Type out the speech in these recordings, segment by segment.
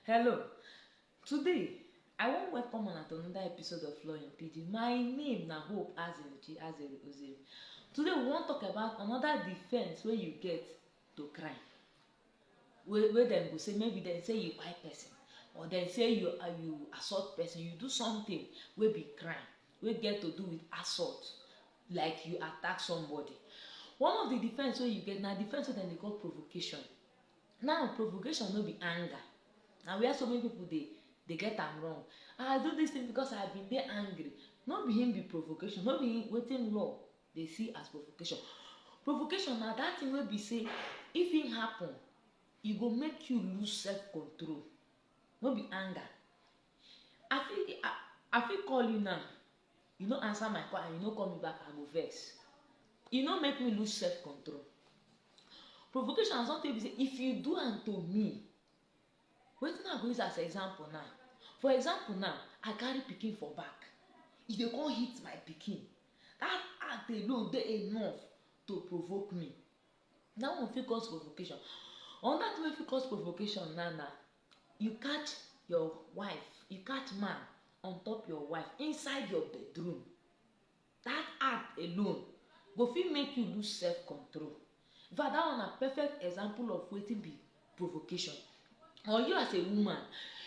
Hello, today I wan welcome una to another episode of Law in Pidgin. My name na Hope Azeruchi Azeru Ozeri. Today we wan talk about another defence wey you get to crime. Wey wey dem go say maybe dem say you kpai person or dem say you uh, you assault person, you do something wey be crime wey get to do with assault like you attack somebody. One of the defence wey you get na defence wey dem dey call provocation. Now provocation no be anger, na where so many people dey dey get am wrong, I do this thing because I been dey angry, no be him be provocation, no be wetin law dey see as provocation. Provocation na that thing wey be say if him happen, e go make you lose self control, no be anger, I fit I, I fit call you now. You no answer my call and you no call me back, I go vex. You no make me lose self control. Provocation na something be say if you do am to me, wetin I go use as example now? For example now, I carry pikin for back, you dey come hit my pikin. That act alone dey enough to provoke me. That one fit cause provocation. Another thing wey fit cause provocation now na You catch your wife, you catch man on top your wife inside your bedroom, that act alone go fit make you lose self control. In fact, that one na perfect example of wetin be provocation. Or you as a woman,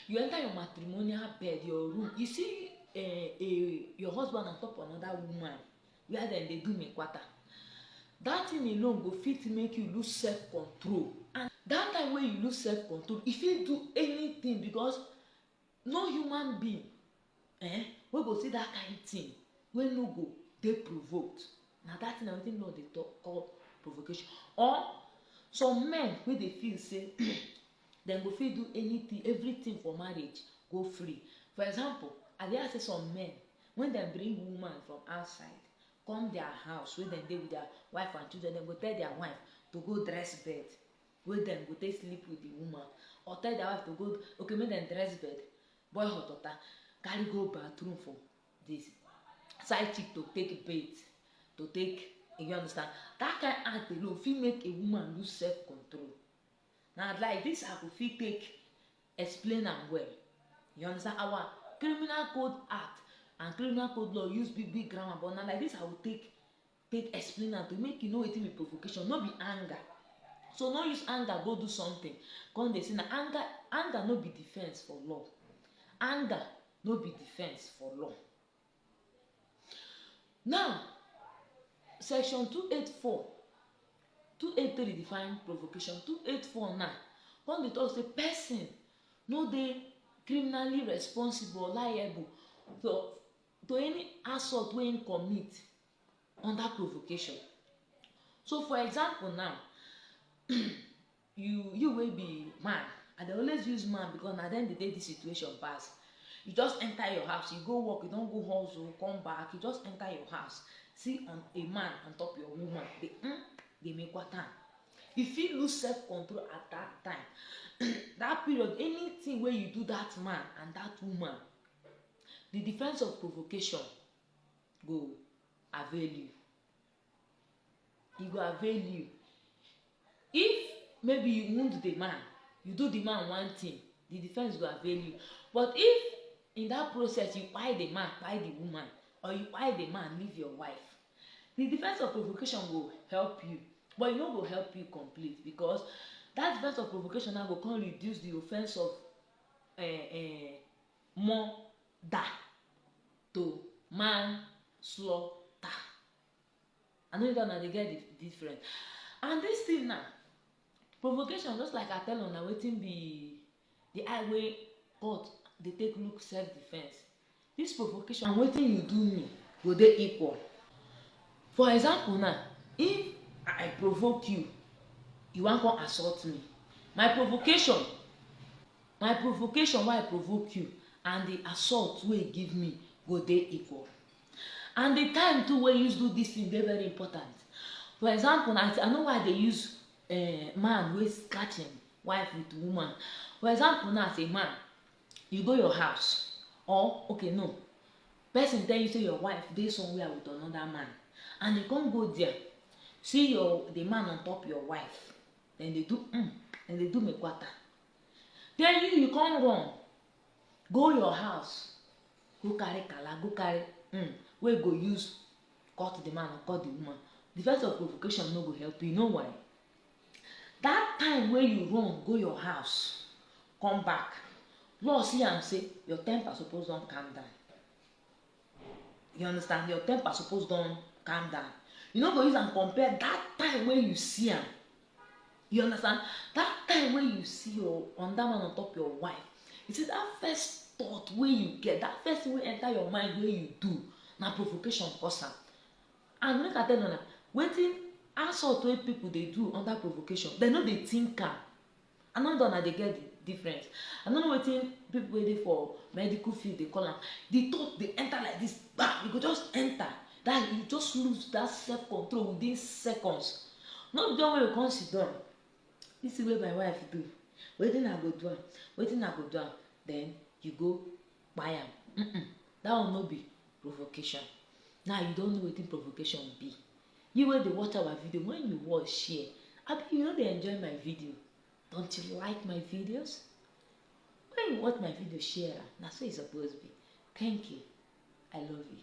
you enter your matrimonial bed, your room, you see uh, a, your husband on top another woman, where dem dey do me kwata that thing alone go fit make you lose self control and that time wey you lose self control you fit do anything because no human being eh, wey go see that kind thing wey no go dey provoked na that thing na wetin law dey talk call provocation or some men wey dey feel say dem go fit do anything everything for marriage go free for example i dey hear say some men Wen dem bring woman from outside come dia house wey dem dey wit dia wife and children, dem go tell dia wife to go dress bed wey dem go take sleep wit di woman or tell dia wife to go okay make dem dress bed, boil hot water, carry go bathroom for di side chick to take bath, to take you get understand. Dat kain act alone fit make a woman lose self control. Na like dis I go fit take Explain am well you understand our criminal code act and criminal code law use big big grammar but na like this I will take take explain am to you make you know wetin be provocation no be anger so no use anger go do something come dey say na anger anger no be defence for law anger no be defence for law Now, section 284, 283 define provocation, 284 now, come dey talk say person no dey criminally responsible or liable to, to any assault wey im commit under provocation. So for example now, You you wey be man, I dey always use man because na dem dey dey this situation pass. You just enter your house, you go work, you don go hustle, come back, you just enter your house, see on a man on top your woman, dey mm, dey make water. You fit lose self control at that time. that period, anything wey you do that man and that woman, the defense of provocation go avail you. e go avail you if maybe you wound the man you do the man one thing the defense go avail you but if in that process you kpai the man kpai the woman or you kpai the man leave your wife the defense of provocation go help you but e no go help you complete because that defense of provocation now go come reduce the offense of uh, uh, murder to manslaughter. I no know if una dey get the difference. And this thing now, provocation just like I tell una wetin be the eye wey God dey take look self defence. This provocation and wetin you do me go dey equal. For example now, if I provoke you, you wan come assault me, my provocation My provocation wey I provoke you and di assault wey you give me go dey equal. And di time too wey you use do dis tin dey very important. For example now, I know why I dey use um man wey scratch im wife wit woman. For example now as a man, you go your house or okay no, pesin tell you sey your wife dey somewhere wit anoda man and you come go dia see your di man on top your wife, dem dey do um, dem dey do me kwanta. then you you come run go your house go carry kala go carry um wey go use cut the man or cut the woman the first of provocation no go help you know why that time wey you run go your house come back law see am say your temper suppose don calm down You understand? Your temper suppose don calm down. You no go use am compare that time wey you see am. You understand? That time wey you see your on that man on top your wife. You see that first thought wey you get, that first thing wey enter your mind wey you do na provocation cause am. And make I tell una, wetin assault wey people dey do under provocation, dem no dey think am. I no know una dey get the difference. I no know wetin people wey dey for medical field dey call am. The thought dey enter like this, bam, e go just enter. That you just lose that self control within seconds. No be the one wey you come sit down. This thing wey my wife do, wetin I go do am? Wetin I go do am? Then you go kpai am uhmm that one no be provocation now you don know wetin provocation be you wey dey watch our video when you watch share abi you no dey enjoy my video don't you like my videos when you watch my video share am na so e suppose be thank you i love you.